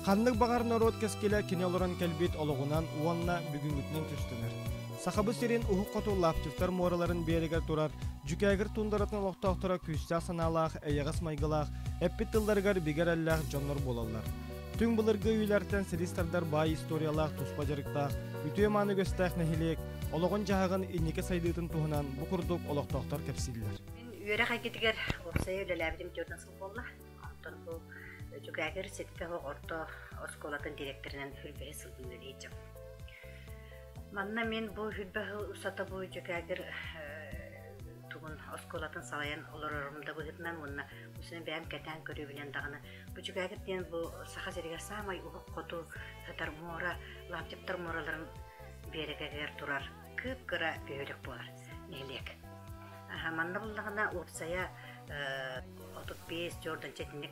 Ханнык баҕар норуот кэскилэ кини олорон кэлбит олоҕунан уонна бүгүҥҥүтүнэн түстүнэр. Сахабыт сирин уһук хоту лаптевтар муораларын биэрэгэр турар Дьүкээгир тундаратын олохтоохторо күүстээх санаалаах, эйэҕэс майгылаах, эппит тылларыгар бигэ эрэллээх дьоннор буолаллар. Түҥ былыргы үйэлэртэн силис тардар баай историялаах туспа дьарыктаах, үтүө-мааны үгэстээх нэһилиэк олоҕун-дьаһаҕын инники сайдыытын туһунан бу курдук олохтоохтор кэпсииллэр. Мин үөрэх эйгэтигэр уопсайа үлэлээбитим түөртэн сыл буолла. Онтон бу Дьүкээгир ситэ оһох орто оскуолатын директорынан үрбэһэ сылдым үлэлэйдим. Манна мин бу үрбэһ усата бу Дьүкээгир тугун оскуолатын салайан олорорум да быһытынан уонна бусун бэйэм кэтээн көрүүбүнэн даҕаны Бүдьүгээтит диэн бу Саха сиригэр саамай уһук хоту сытар муора, Лаптиптар муораларын биэрэгэгэр турар кып-кыра үһүлүк буолар нэһилиэк. Манна буллаҕына уопсайа 35 жорданча итинник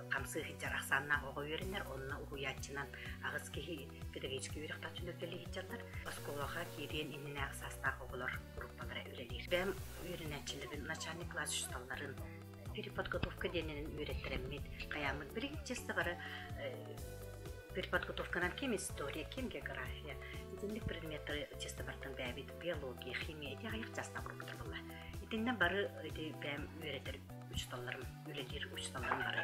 хамсыы сылдьар ахсааннаах оҕо үөрэнэр, онно уһуйааччынан аҕыс киһи педагогическай үөрэхтэх түнүккэлии сылдьар. Оскуолаҕа киириэн иннинэ саастаах оҕолор группалара үлэлиир. Бэм үөрэнээччилэрин начальник класс учууталларын переподготовка диэнинэн үөрэттэрэммит хайааммыт билигин чисто бары переподготовканан ким история ким география итинник предметтары чисто бартан бээбит биология химия ити айах частабыр бутулла итиннэ бары ити бээм үөрэтэр учуталларым үлэлиир учуталларым бары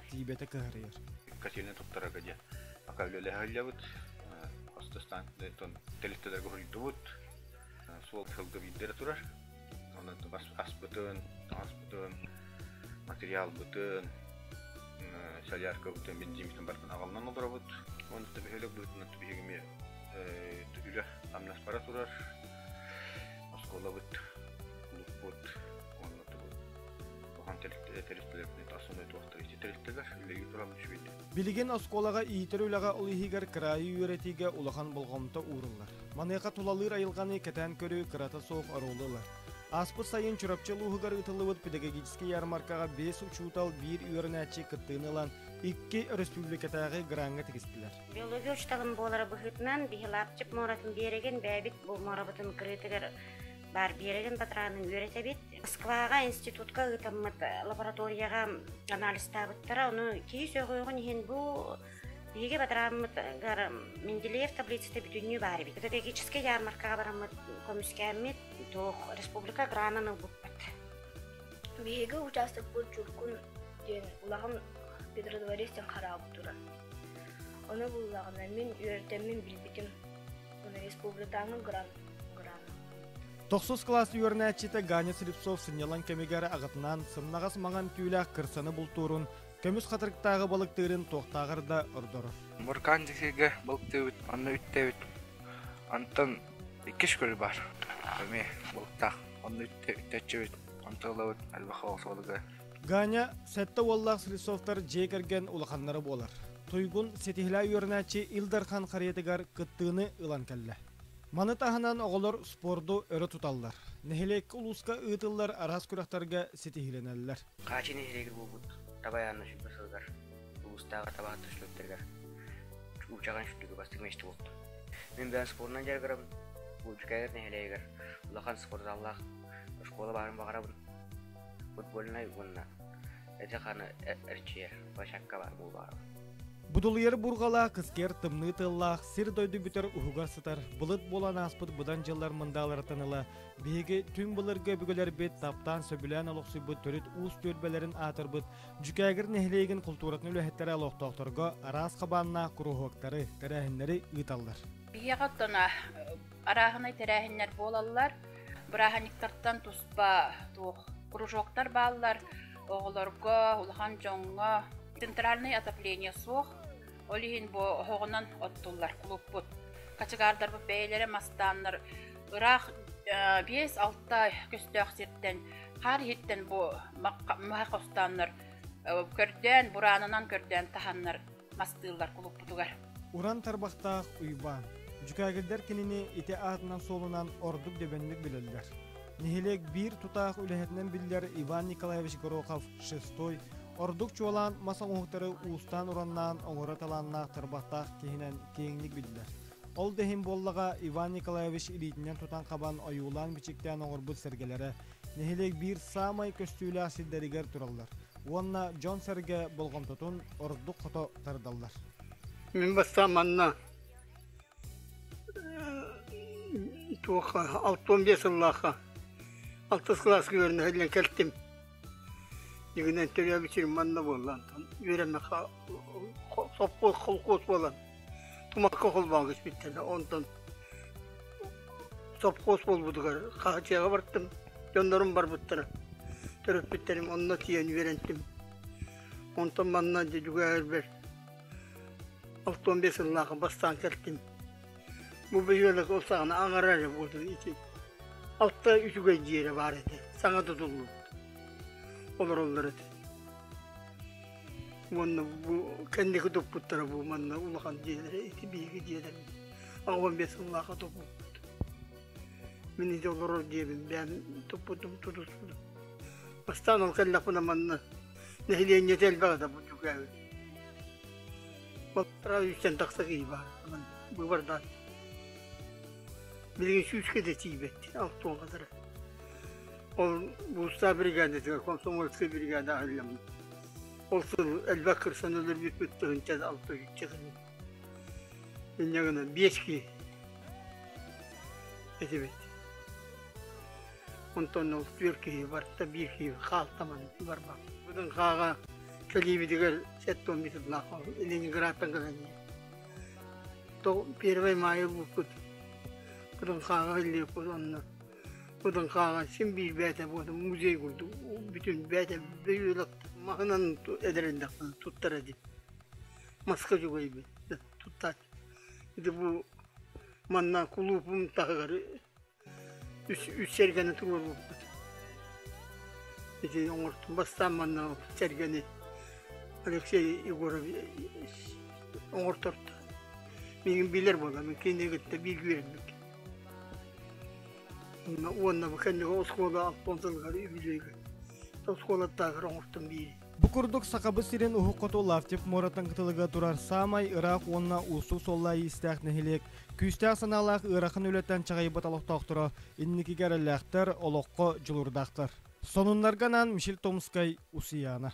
Тиибэтэ кыһарыйар. Катины туттарарга диэн. Пока үлэлэһэ сылдьабыт. Хос да станциятын тэрилтэлэргэ хоруйдубут. Суол сылга биирдэрэ турар. Онон аспытын, ааспытын, материалбытын, соляркабытын, бензинбитин барытын аҕалынан олоробут. Онтон бөһөлөк быытынан түбиһиги эмиэ үлэ амнас бара турар. Оскуолабыт, кулуппут, оннотубут туһан тэрилтэлэр тэрилтэлэрин тасуна туохтарыйча тэрилтэлэр үлэйи туран үчүгэйдик Билигин оскуолаҕа иитэр үлэҕэ ол иһигэр кыраайы үөрэтиигэ улахан болҕомто ууруллар. Маныаха тулалыыр айылҕаны кэтээн көрүү кырата суох оруолу ылар. Ааспыт сайын Чурапчы улууһугар ыытыллыбыт педагогическай ярмаркаҕа бэс учуутал биир үөрэнээччи кыттыыны ылан, икки өрөспүүбүлүкэтээҕи граҥҥа тигистилэр. Биология учууталым буолара быһыытынан, биһи Лаапчык муоратын биэрэгин бэйэбит бу муорабытын кырыытыгар Баар биэрэрин батыраанын үөрэтэбит. Москваҕа институтка ыытаммыт лабораторияҕа анализтаабыттара. Ону киһи сөҕүөҕүн иһин бу биһиги батырааммытгар Менделеев таблицата бүтүннүү баар эбит. Педагогическай ярмаркаҕа бараммыт көмүскээммит, туох республика гранын ылбыппыт. Биһиги учаастакпыт Чуркун диэн улахан петродворец диэн хараабыт турар. Ону буллаҕына мин үөртэммин билбитим. Тохсус кылаас үөрэнээччитэ Ганя Слепцов сынньалаҥ кэмигэр аҕатынаан сымнаҕас маҥан түүлээх кырсаны бултуурун, көмүс хатырыктааҕы балыктыырын туохтааҕар да ордор. Буркан дикигэ балыктыыбыт, онно үттэбит. Онтон иккис күлү бар. Эми балыктаах, онно үттэччибит, онтон ылабыт альбаха осолуга Ганя сэттэ уоллаах Слесовтар дьиэ кэргэн улаханнара буолар. Туйгун ситиһилэ үөрэнээччи Ил Дархан харыйатыгар кыттыыны ылан кэллэ. Маны таһынан оҕолор спорду өрө туталлар. Нэһилиэк улууска ыытыллар араас күрэхтэргэ ситиһиилэнэллэр. Хаачы нэһилиэгэ буолбут Табай Анна сүлбэ сылыгар улуустааҕы табаһыттар сүлүктэригэр уучаҕан сүлүгү бастык мээчте буолду. Мин бэйэн спорнан дьарыгырабын. Буучукайгар нэһилиэгигэр улахан спортзаллаах школа баарын баҕарабын. футбольнай уонна ити-ханы эрчийэр площадка баар буолуоҕа. Будулуйар бурҕала кыскер тымныы тыллаах сир-дойду бүтэр уһугар сытар былыт буолан ааспыт быдан дьыллар мындааларыттан ыла биһиги түҥ былыргы өбүгэлэрбит таптаан сөбүлээн олохсуйбут төрүт уус түөлбэлэрин аатырбыт Дьүкээгир нэһилиэгин култууратын үлэһиттэрэ олохтоохторго араас хабааннаах куруһуоктары, тэрээһиннэри ыыталлар. Биһиэхэ оттон арааһынай тэрээһиннэр буолаллар. Бырааһынньыктартан туспа туох кружоктар бааллар. Оҕолорго, улахан дьоҥҥо центральное отопление суох. Ол иһин бу оһоҕунан оттуллар клубпут. Качыгаардарбыт бэйэлэрэ мастааннар ыраах биэс-алта көстөөх сиртэн хаар иһиттэн бу махха хостооннор көрдөөн, бураанынан көрдөөн таһаннар мастыыллар кулукпутугар. Уран тарбахтаах Уйбаан, Дьүкээгирдэр кинини ити аатынан-суолунан ордук дөбөҥнүк билэллэр. Нэһилиэк биир тутаах үлэһитинэн биллэр Иван Николаевич Горохов шестой ордук чуолаан мас оҥоһуктары уустаан-ураннаан оҥоро талааннаах тарбахтаах киһинэн киэҥник биллэр. Ол да иһин буоллаҕа Иван Николаевич илиитинэн тутан хабан ойуулаан-бичиктээн оҥорбут сэргэлэрэ нэһилиэк биир саамай көстүүлээх сирдэригэр тураллар уонна дьон-сэргэ болҕомтотун ордук хото тардаллар. Мин бастаан манна туох алты он биэс сыллаахха алтыс кылааскыгар нэһилиэн кэлтим. Игинэн төрөөбүт сирим манна буоллан үөрэммэххэ совхоз холкуос буолан тумакка холбооҥҥо испиттэнэ онтон сопхуос буолбутугар хаачыйаҕа бардым дьоннорум барбыттара төрөппүттэрим онно тиийэн үөрэттим онтон манна дьүгээрбэр алтан сыллаах бастаан кэлтим бу бөһүөлэк ол саҕана аҥара эрэ буолуо ити алта үчүгэй дьиэрэ баар этэ саҥа тутуллубут олороллор этэ уонна бу кэнники туппуттара бу манна улахан дьиэлэрэ ити биһиги дьиэлэрим аҕам бес сыллааха туппуппут мин ити олорор диэбин бэйэн туппутум тутуспутум бастаан ол кэллэхпинэ манна нэһилиэнньэтэ элбэҕэ да дьүкээбит балтараа үстэн тахса киһи баар быыбардаан билигин сүүскэ да тиийбэт алтуон кадары Ол Буустаа бригадитыгар, комсомольскай бригадаҕа иһиллэммит. Ол сыл элбэх кырсан өлөрбүппүт тыһынча алта үччэ инньэ гынан биэс киһи этибит. Онтон ол түөрт киһи барта биир киһи хаалтаман барбан. Бутун хааҕа кэлиибитигэр сэттон бититлаах Ленинградтан кэлэни. То первый мая букут. Бутун хааҕа иллиэппут онно Кутун хаалан син биир бээтэ буотун музей курдук бүтүн бээтэ бөйүөлөк маһынан эдэриндэхпин туттара дин. Маска жугайбын туттаат. Ити бу манна кулуупум таһыгар үс үс сэргэни туруорбуппут. Ити оңортум бастаан манна сэргэни Алексей Егорович оҥорторто. Миигин билэр буолам, кини кытта бииргэ үөрбүт. уонна бу кэнники оскуола алпон сылгары үбүлүөгэ оскуолаттаахар оҥостон биири Бу курдук Сахабыт сирин уһук хоту Лаптев муоратын кытылыга турар саамай ыраах уонна устуу иистээх нэһилиэк. Күүстээх санаалаах ыарахан үлэтэн чаҕыйбыт олохтоохторо инникигэ эрэллээхтэр, олоххо дьулурдаахтар. Сонуннарга анаан Мишель Томскай, Усияна.